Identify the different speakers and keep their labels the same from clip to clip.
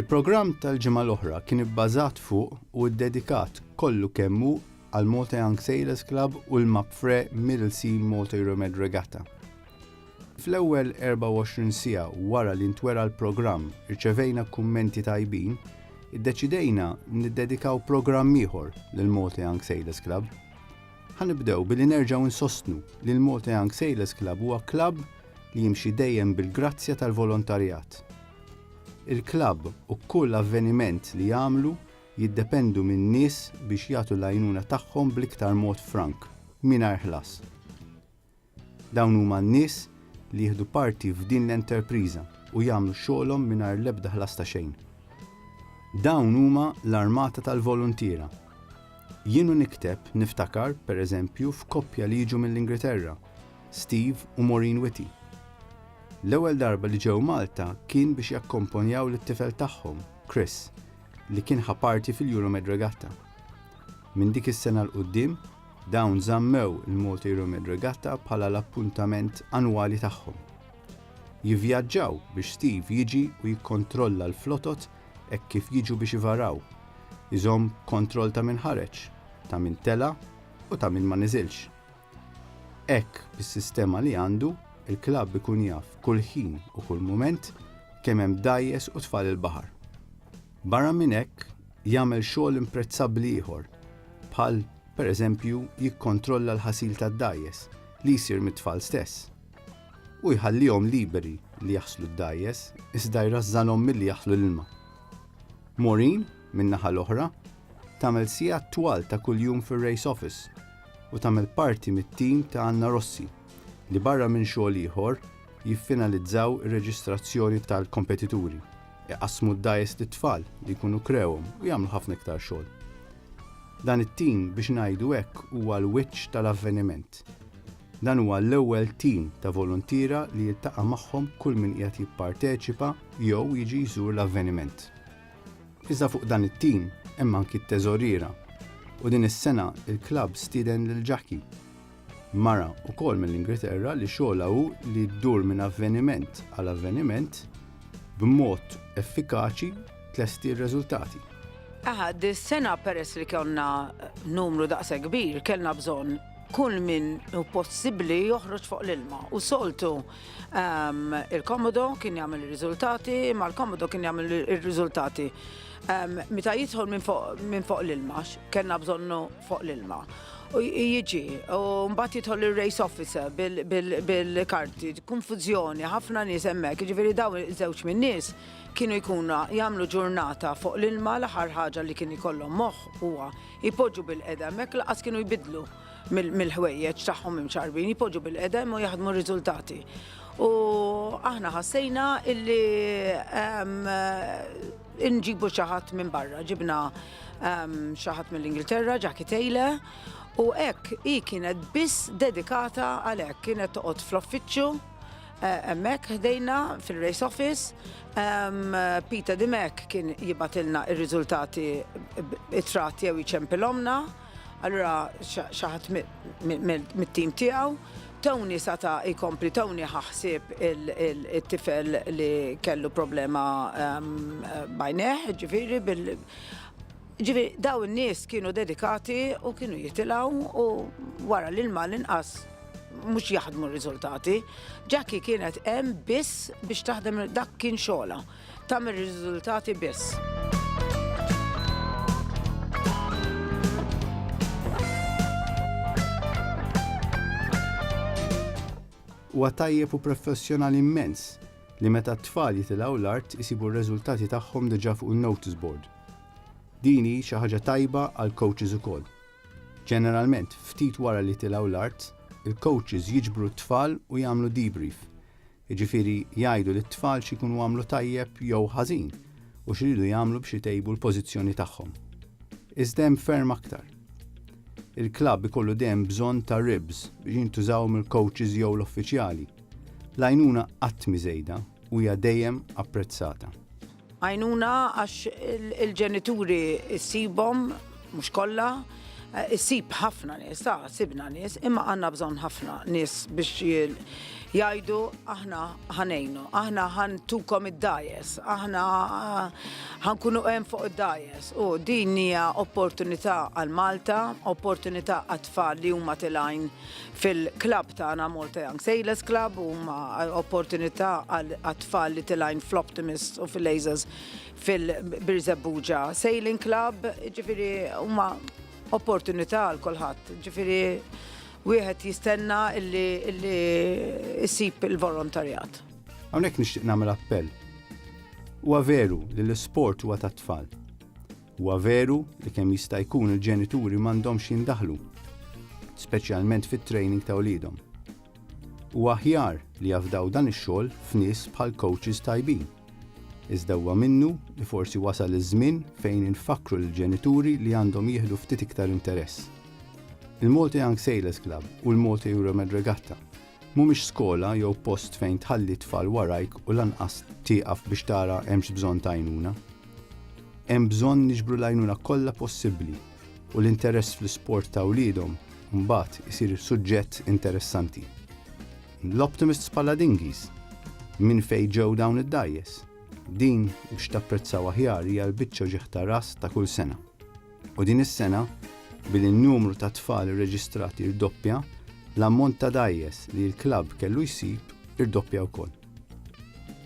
Speaker 1: Il-programm tal-ġimgħa l-oħra kien ibbażat fuq u ddedikat kollu kemm hu għal Malta Young Sailors Club u l-Mapfre Middle Sea Malta Euromed Regatta. Fl-ewwel 24 siegħa wara li ntwera l-programm rċevejna kummenti tajbin, iddeċidejna niddedikaw programm ieħor lill-Malta Young Sailors Club. Ħa nibdew billi nerġgħu nsostnu li l-Malta Young Sailors Club huwa klabb li jimxi dejjem bil-grazzja tal-volontarjat. Il-klabb u kull avveniment li jagħmlu jiddependu min-nies biex jagħtu l-għajnuna tagħhom bl-iktar mod frank, mingħajr ħlas. Dawn huma n-nies li jieħdu parti f'din l-enterpriża u jagħmlu xogħolhom mingħajr l-ebda ħlas ta' xejn. Dawn huma l-armata tal-voluntiera. Jien u nikteb niftakar, per eżempju, f'koppja li jiġu mill-Ingriterra, Steve u Maureen Whitty. L-ewwel darba li ġew Malta kien biex jakkomponjaw lit-tifel tagħhom, Chris, li kien ħa parti fil-Euromed Regatta. Minn dik is-sena 'l quddiem, Dawn żammew il-Malta Euromed Regatta bħala l-appuntament annwali tagħhom. Jivvjaġġaw biex Steve jiġi u jikkontrolla l-flotot hekk kif jiġu biex ivaraw, iżomm kontroll ta' min ħareġ, ta' min tela' u ta' min ma niżilx. Hekk, bis-sistema li għandu, il-klabb ikun jaf kull ħin u kull mument kemm hemm dgħajjes u tfal il-baħar. Barra minn hekk, jagħmel xogħol imprezzabbli ieħor, bħal, pereżempju, jikkontrolla l-ħasil tad-dgħajjes li jsir mit-tfal stess. Hu jħallihom liberi li jaħslu d-dgħajjes iżda jrażżanhom milli jaħlu l-ilma. Maureen, min-naħa l-oħra, tagħmel sigħat twal ta' kuljum fir-race office u tagħmel parti mit-tim ta' Anna Rossi li barra minn xogħol ieħor jiffinalizzaw ir-reġistrazzjoni tal-kompetituri. Iqassmu d-dgħajjes lit-tfal li jkunu krewhom u jagħmlu ħafna iktar xogħol. Dan it-tim biex ngħidu hekk huwa l-wiċċ tal-avveniment. Dan huwa l-ewwel tim ta' voluntiera li jiltaqa' magħhom kull min qiegħed jipparteċipa jew jiġi jżur l-avveniment. Iżda fuq dan it-tim hemm anki t-teżoriera u din is-sena l-klabb stieden lil Jackie. Mara, ukoll mill-Ingilterra, li xogħolha hu li ddur minn avveniment għal avveniment b'mod effikaċi tlesti r-reżultati. Aha,
Speaker 2: dis-sena peress li konna numru daqshekk kbir, kellna bżonn kull min hu possibbli joħroġ fuq l-ilma. U soltu ehm, il-komodo kien jagħmel ir-riżultati, ma l-komodo kien jagħmel ir-riżultati. Ehm, meta jidħol minn fuq l-ilma, kellna bżonnu fuq l-ilma. Jiġi, u mbagħad jidħol ir-race officer bil-karti, konfużjoni, ħafna nies hemmhekk, jiġifieri dawn iż-żewġ min-nies kienu jkunu jagħmlu ġurnata fuq l-ilma l-aħħar ħaġa li kien ikollhom moħħ huwa jpoġġu bil-qeda hemmhekk lanqas kienu jbiddlu mill-ħwejjeġ tagħhom imċarbin, jpoġġu bil-qedem u jaħdmu r-riżultati. U aħna ħassejna illi Inġibu xi ħadd minn barra, ġibna ehm, xi ħadd mill-Ingilterra, Jackie Taylor, u hekk hi kienet biss dedikata għal hekk, kienet toqgħod fl-offiċċju Eh, emmek ħdejna fil-race office. Peter Dimek kien jibatilna il-rizultati it-trat jew iċempilomna. Allura xi ħadd mit-tim tiegħu, Tony sata' jkompli, Tony ħa ħsieb it-tifel li kellu problema b'għajnejh, ġifieri bil. Ġifieri dawn in-nies kienu dedikati u kienu jitilgħu u wara l-ilma l-inqas mhux jaħdmu r-riżultati. Jackie kienet hemm biss biex taħdem dak kien xogħolha. tagħmel riżultati biss.
Speaker 1: Huwa tajjeb u professjonali immens li meta t-tfal jitilgħu l-art isibu r-reżultati tagħhom diġà fuq il-notice board. Din hi xi ħaġa tajba għal coaches ukoll. Ġeneralment, ftit wara li tilgħu l-art, il-coaches jiġbru t-tfal u jagħmlu debrief. jiġifieri jgħidu lit-tfal x'ikunu għamlu tajjeb jew ħażin u x'iridu jagħmlu biex itejbu l-pożizzjoni tagħhom. Iżda hemm ferm aktar. Il-klabb ikollu dejjem bżonn ta' ribs biex jintużaw mill-kowċis jew l-uffiċjali. L-għajnuna qatt mhi żejda u hija dejjem apprezzata. Għajnuna
Speaker 2: għax il-ġenituri ssibhom, mhux kollha, issib ħafna nies, ta' sibna nies, imma għandna bżonn ħafna nies biex jgħidu aħna ħanejnu, aħna ħantukom id-dajes, aħna ħankunu hemm fuq id-dajes. U din hija opportunità għal Malta, opportunità għat-tfal li huma tilgħin Fil-klabb tagħna Malta Young Sailors Club huma opportunità għat-tfal li tilgħin fl-Optimists u fil-Lasers fil-Birżebbuġa Sailing Club, ġifieri huma opportunità għal kulħadd. Ġifieri wieħed jistenna illi jsib il-volontarjat. Hawnhekk nixtieq
Speaker 1: nagħmel appell. Huwa veru li l-isport huwa tat-tfal. Huwa veru li kemm jista' jkun il-ġenituri m'għandhomx jindaħlu, speċjalment fit-training ta' wliedhom. Huwa aħjar li jafdaw dan ix-xogħol f'nies bħal coaches tajbin. Iżda huwa minnu li forsi wasal iż-żmien fejn infakkru lill-ġenituri li għandhom jieħdu ftit iktar interess. Il-Malta Young Sailors Club u l-Malta Euromed Regatta Mhumiex skola jew post fejn tħalli t-tfal warajk u lanqas tieqaf biex tara hemmx bżonn t'għajnuna. Hemm bżonn niġbru l-għajnuna kollha possibbli u l-interess fl-isport ta' wliedhom mbagħad isir suġġett interessanti. L-Optimists bħala dinghies! Minn fejn ġew dawn id-dgħajjes? Din, biex tapprezzaw aħjar, hija l-biċċa ġieħ ta' ras ta' kull sena. U din is-sena, billi n-numru ta' tfal irreġistrati rdoppja, l-ammont ta' dgħajjes li l-klabb kellu jsib irdoppja wkoll.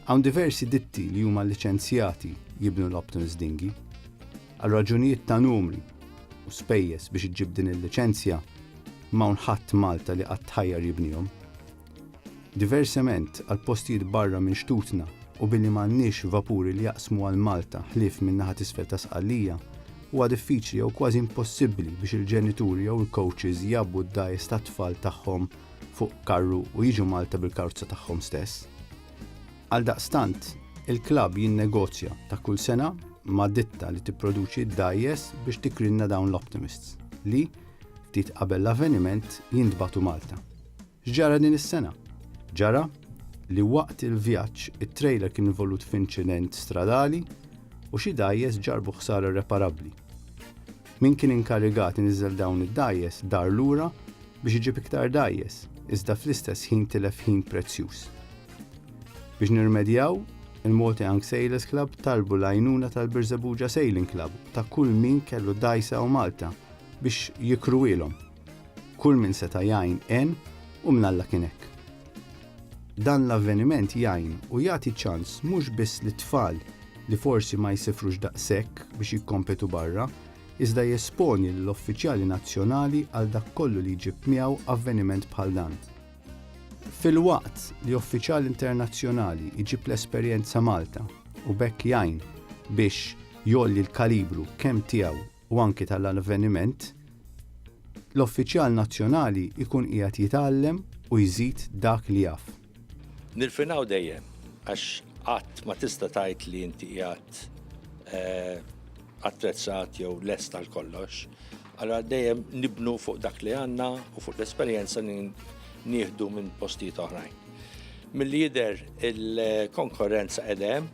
Speaker 1: Hawn diversi ditti li huma liċenzjati jibnu l-Uptons Dinghy. Għal raġunijiet ta' numri u spejjeż biex iġġib din il-liċenzja, m'hawn ħadd Malta li qatt ħajjar jibnihom. Diversement, għal postijiet barra minn xtutna u billi m'għandniex vapuri li jaqsmu għal Malta ħlief min-naħa t'isfel ta' Sqallija, huwa diffiċli jew kważi impossibbli biex il-ġenituri jew il-coaches jgħabbu d-dgħajjes tat-tfal tagħhom fuq karru u jiġu Malta bil-karozza tagħhom stess. Għaldaqstant, il-klabb jinnegozja ta' kull sena ma' ditta li tipproduċi d-dgħajjes biex tikrinna dawn l-Optimists li, ftit qabel l-avveniment, jintbagħtu Malta. X'ġara din is-sena? Ġara li waqt il-vjaġġ it-trejler kien involut f'inċident stradali u xi dgħajjes ġarrbu ħsara irreparabbli. Min kien inkarigat iniżżel dawn id-dgħajjes dar lura biex iġib iktar dgħajjes, iżda fl-istess ħin tilef ħin prezzjuż. Biex nirrimedjaw, il-Malta Young Sailors Club talbu l-għajnuna tal-Birżebbuġa Sailing Club u ta' kull min kellu dgħajsa u malta biex jikruhielhom. Kull min seta' jgħin għen u minn Alla kien hekk. Dan l-avveniment jgħin u jagħti ċans mhux biss lit-tfal li forsi ma jsifrux daqshekk biex jikkompetu barra, iżda jesponi lill-uffiċjali nazzjonali għal dak kollu li jġib miegħu avveniment bħal dan. Filwaqt li uffiċjal internazzjonali jġib l-esperjenza Malta u b'hekk jgħin biex jgħolli l-kalibru kemm tiegħu u anki tal-avveniment, l-uffiċjal nazzjonali jkun qiegħed jitgħallem u jżid dak li jaf. Nirfinaw
Speaker 3: dejjem, għax qatt ma tista' tgħid li inti qiegħed attrezzat jew lest għal kollox, allura dejjem nibnu fuq dak li għandna u fuq l-esperjenza li nieħdu minn postijiet oħrajn. Milli jidher il-konkorrenza qiegħda hemm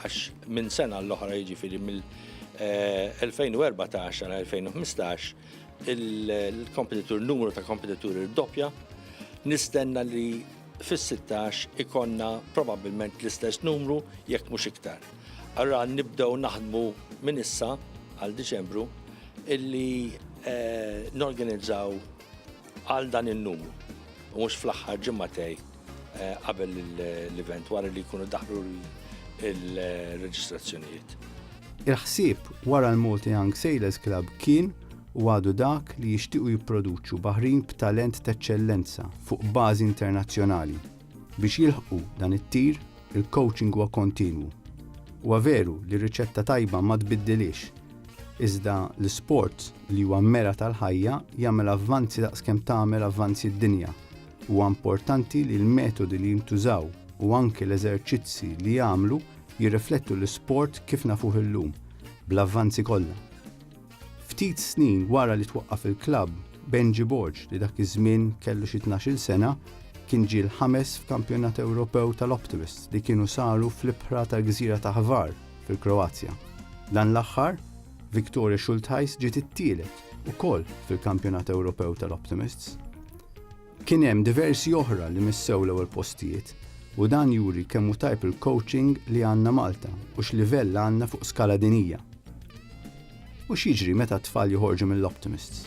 Speaker 3: għax minn sena għall-oħra jiġifieri mill- 2014 għal 2015 il-kompetitur, numru ta' kompetitur il-doppja, nistenna li fis-16 ikonna probabbilment l-istess numru jekk mhux iktar. Allura nibdew naħdmu minn issa għal Diċembru illi eh, norganizzaw għal dan in-numru u mhux fl-aħħar ġimgħatej eh, qabel l-event wara li jkunu daħlu l-reġistrazzjonijiet. Il-ħsieb
Speaker 1: wara l-Malta Young Sailors Club kien u għadu dak li jixtiequ jipproduċu baħrin b'talent t'eċċellenza fuq bażi internazzjonali. Biex jilħqu dan it-tir, il-coaching huwa kontinwu. Huwa veru li r-riċetta tajba ma tbiddilhiex, iżda l-isport li huwa mera tal-ħajja jagħmel avvanzi daqskemm tagħmel avvanzi d-dinja. Huwa importanti li l-metodi li jintużaw u anki l-eżerċizzi li jagħmlu jirriflettu l-isport kif nafuh illum, bl-avvanzi kollha. Ftit snin wara li twaqqaf il-klabb, Benji Borg, li dak iż-żmien kellu xi tnax-il sena, kien ġie l-ħames f'Kampjonat Ewropew tal-Optimists li kienu saru fl-ibħra tal-gżira ta' Hvar, fil-Kroazja. Dan l-aħħar, Viktoria Schultheis ġiet it-tielet, ukoll fil-Kampjonat Ewropew tal-Optimists. Kien hemm diversi oħra li missew l-ewwel postijiet u dan juri kemm hu tajb il-coaching li għandna Malta u x'livell għandna fuq skala dinija. U x'jiġri meta t-tfal joħorġu mill-Optimists?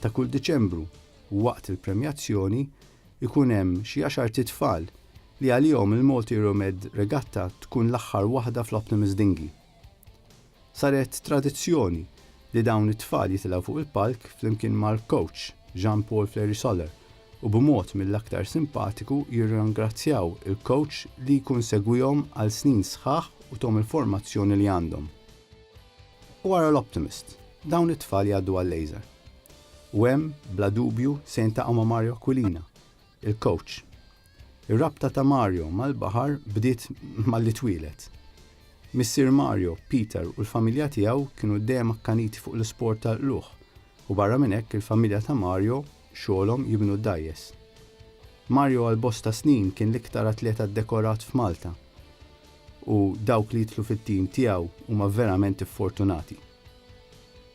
Speaker 1: Ta' kull Diċembru, waqt il-premjazzjoni, ikun hemm xi għaxart itfal li għalihom il-Multiromed Regatta tkun l-aħħar waħda fl-Optimus Dinghy. Saret tradizzjoni li dawn it-tfal jitilgħu fuq il-palk flimkien mal-coach Jean Paul Fleury-Soler u b'mod mill-aktar simpatiku jirrangrazzjaw il-coach li jkun segwihom għal snin sħaħ u thom il-formazzjoni li għandhom. U ara l-Optimist, dawn it-tfal jgħaddu għal-Laser. U hemm, bla dubju, se jiltaqgħu ma' Mario Aquilina, il-coach. Ir-rabta ta' Mario mal-baħar bdiet malli twieled. Missier Mario, Peter u l-familja tiegħu kienu dejjem akkaniti fuq l-isport tal-qlugħ u barra minn hekk il-familja ta' Mario xogħolhom jibnu d-dgħajjes. Mario għal bosta snin kien l-iktar atleta ddekorat f'Malta. u dawk li jidħlu fit-tim tiegħu huma verament iffortunati.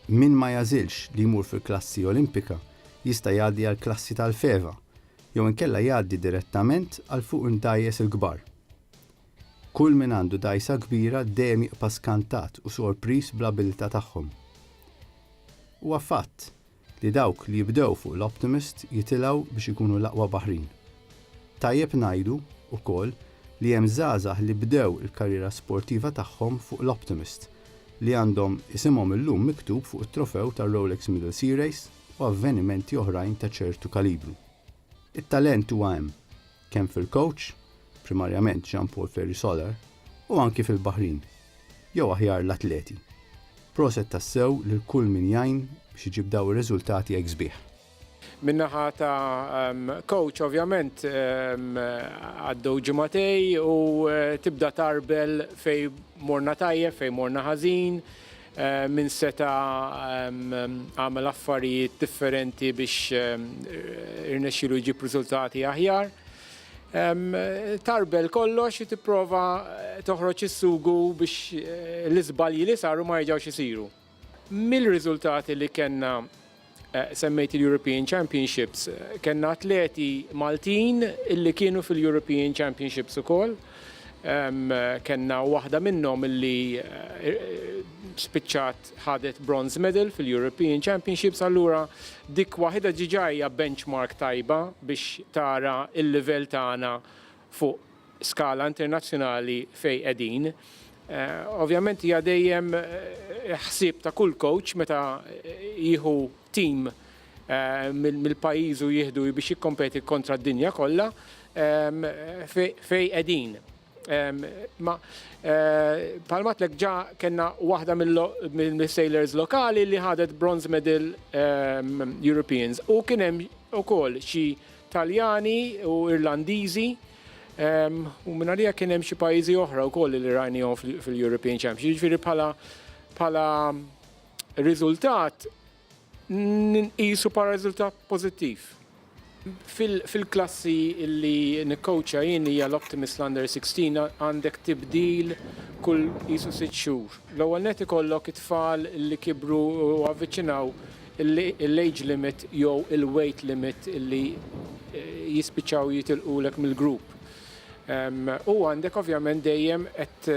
Speaker 1: Min ma jagħżilx li jmur fil-klassi Olimpika jista' jgħaddi għall-klassi tal-FEVA jew inkella jgħaddi direttament għal fuq id-dgħajjes il-kbar. Kull min għandu dgħajsa kbira dejjem jibqa' skantat u sorpriż bl-abilità tagħhom. Huwa fatt li dawk li jibdew fuq l-Optimist jitilgħu biex ikunu l-aqwa baħrin. Tajjeb ngħidu, ukoll, li hemm żgħażagħ li bdew il-karriera sportiva tagħhom fuq l-Optimist, li għandhom isimhom illum miktub fuq it-trofew tar-Rolex Middle Sea Race u avvenimenti oħrajn ta' ċertu kalibru. It-talent huwa hemm, kemm fil-kowċ, primarjament Jean Paul Ferry Solar, u anki fil-baħrin, jew aħjar l-atleti. Proset tassew lil kull min jgħin biex iġib dawn ir-riżultati hekk sbieħ. Min-naħa
Speaker 4: ta' kowċ ovvjament għaddew ġimgħatej u tibda tgħarbel fejn morna tajjeb, fejn morna ħażin. Min seta' għamel affarijiet differenti biex irnexxielu jġib riżultati aħjar. Tarbel kollox u tipprova toħroġ is-sugu biex l-iżbalji li saru ma jerġgħux isiru. Mill-riżultati li kellna Semmejt il-European Championships. Kellna atleti Maltin illi kienu fil-European Championships ukoll. Kellna waħda minnhom illi spiċċat ħadet bronze medal fil-European Championships allura dik waħidha diġà hija benchmark tajba biex tara l-livell tagħna fuq skala internazzjonali fejn qegħdin. Ovvjament hija dejjem ħsieb ta' kull coach meta jieħu team mill-pajjiż u jieħdu biex jikkompeti kontra d-dinja kollha fejn qegħdin. Imma bħalma għedtlek ġa kellna waħda mill-sailors lokali li ħadet bronze medal Europeans u kien hemm ukoll xi Taljani u Irlandiżi u mingħalija kien hemm xi pajjiżi oħra wkoll li rajnihom fil-European Championship. Jiġifieri bħala bħala riżultat nqisu bħala riżultat pożittiv. Fil-klassi li nikkowċja jien hija l-Optimist l-Under 16 għandek tibdil kull qisu sitt xhur. L-ewwel nett ikollok it-tfal li kibru u avviċinaw l-age limit jew il-weight limit li jispiċċaw jitilqulek mill-grupp. U għandek ovvjament dejjem qed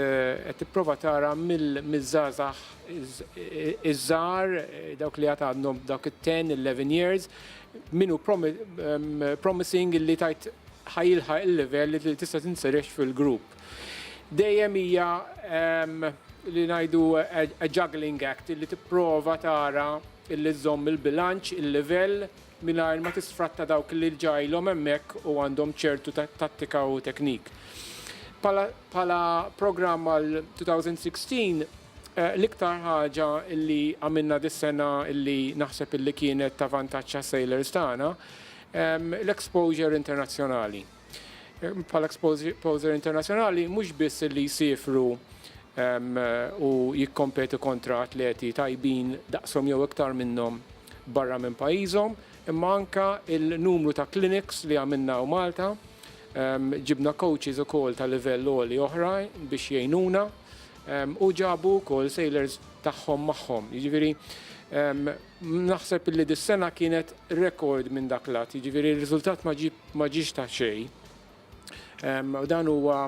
Speaker 4: tipprova tara mill-żgħażagħ iż-żgħar, dawk li għad għadhom dawk it-ten, eleven years, min hu promising li tgħid ħa jilħaq il-livell li tista' tinseriex fil-grupp. dejjem hija li ngħidu a juggling act li tipprova tara illi żżomm il-bilanċ, il-livell mingħajr ma tisfratta dawk li ġajlhom hemmhekk u għandhom ċertu tattika u teknik. Pala programm għal 2016 eh, l-iktar ħaġa illi għamilna dis-sena illi naħseb illi kienet ta' vantaġġ sailors tagħna l-exposure internazzjonali. bħala exposer internazzjonali mhux biss li jsiefru u jikkompetu kontra atleti tajbin daqshom jew iktar minnhom barra minn pajjiżhom, imma anke n-numru ta' clinics li għamilna hawn Malta. Ġibna coaches ukoll ta' livell għoli oħra biex jgħinuna u ġabu wkoll sailors tagħhom magħhom. Jiġifieri Naħseb illi dis-sena kienet rekord minn dak l-att, jiġifieri r-riżultat ma ġiex ta' xejn. U dan huwa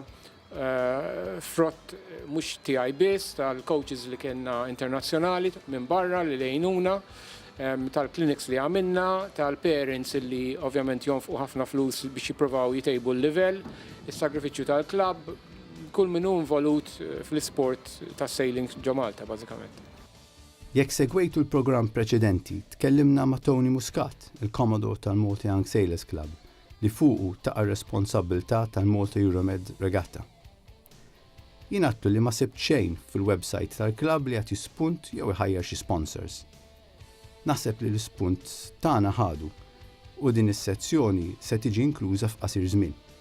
Speaker 4: frott mhux tiegħi biss, tal-coaches li kellna internazzjonali minn barra li għinuna, tal-clinics li għamilna, tal-parents illi ovvjament jonfqu ħafna flus biex jippruvaw jtejbu l-livell, is-sagrifiċċju tal-klabb, kull min hu involut fl-isport tas-sailing ġo Malta bażikament. Jekk
Speaker 1: segwejtu l-programm preċedenti, tkellimna ma' Tony Muscat, il-Commodore tal-Malta Young Sailors Club, li fuqu taqa' r-responsabbiltà tal-Malta Euromed Regatta. Jien għidtlu li ma sibt xejn fil-websajt tal-klabb li jagħti spunt jew iħajjar xi sponsors. Naħseb li l-ispunt tagħna ħadu u din is-sezzjoni se tiġi inkluża f'qasir żmien.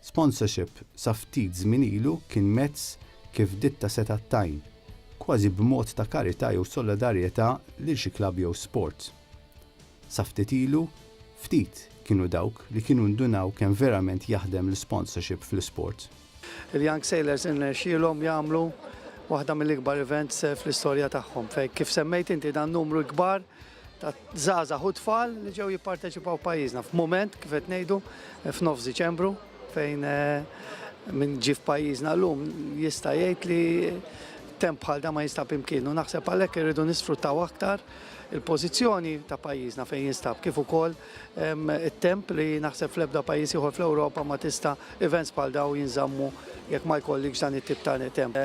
Speaker 5: Sponsorship
Speaker 1: sa ftit żmien ilu kien mezz kif ditta setgħet tgħin, kważi b'mod ta' karità jew solidarjetà lil xi klabb jew sport. Sa ftit ilu, ftit kienu dawk li kienu ndunaw kemm verament jaħdem l-isponsorship fl-isport. Il-Young
Speaker 6: Sailors irnexxielhom jagħmlu waħda mill-ikbar events fl-istorja tagħhom fejn kif semmejt inti dan numru l-kbar ta' żgħażagħ u tfal li ġew jipparteċipaw f'pajjiżna f'mument kif qed ngħidu f'nofs Diċembru fejn minn ġie f'pajjiżna llum jista' jgħid li temp bħal da ma jinstab imkienu. Naħseb għalhekk irridu nisfruttaw aktar il-pożizzjoni ta' pajjiżna fejn jinstab kif ukoll it-temp li naħseb fl-ebda pajjiż ieħor fl-Ewropa ma tista' events bħal daw jinżammu jekk ma jkollikx dan it-tip ta' temp.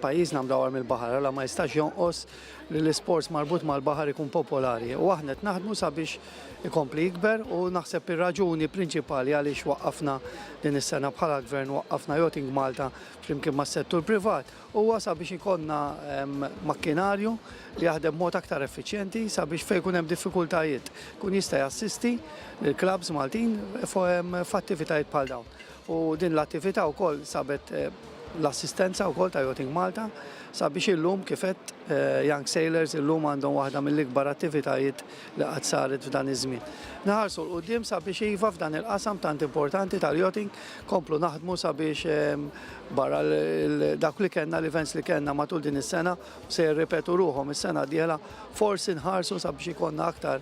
Speaker 6: Pajjiżna mdawwar mill-baħar għala ma jistax jonqos li l-isports marbut mal-baħar ikun popolari u aħna qed naħdmu sabiex ikompli jikber u naħseb ir-raġuni prinċipali għaliex waqqafna din is-sena bħala Gvern waqqafna Yachting Malta flimkien mas-settur privat huwa sabiex ikollna makkinarju li jaħdem b'mod aktar effiċjenti sabiex fejn ikun hemm diffikultajiet ikun jista' jassisti lill-klabbs Maltin f'attivitajiet bħal dawn. U din l-attività wkoll sabet l-assistenza wkoll ta' Yachting Malta sabiex illum kif għedt Young Sailors illum għandhom waħda mill-ikbar attivitajiet li qatt saret f'dan iż-żmien. Nħarsu 'l quddiem sabiex iva f'dan il-qasam tant importanti tal-yachting nkomplu naħdmu sabiex barra dawk li kellna l-events li kellna matul din is-sena u se jirripetu ruħhom is-sena d-dieħla forsi nħarsu sabiex ikollna aktar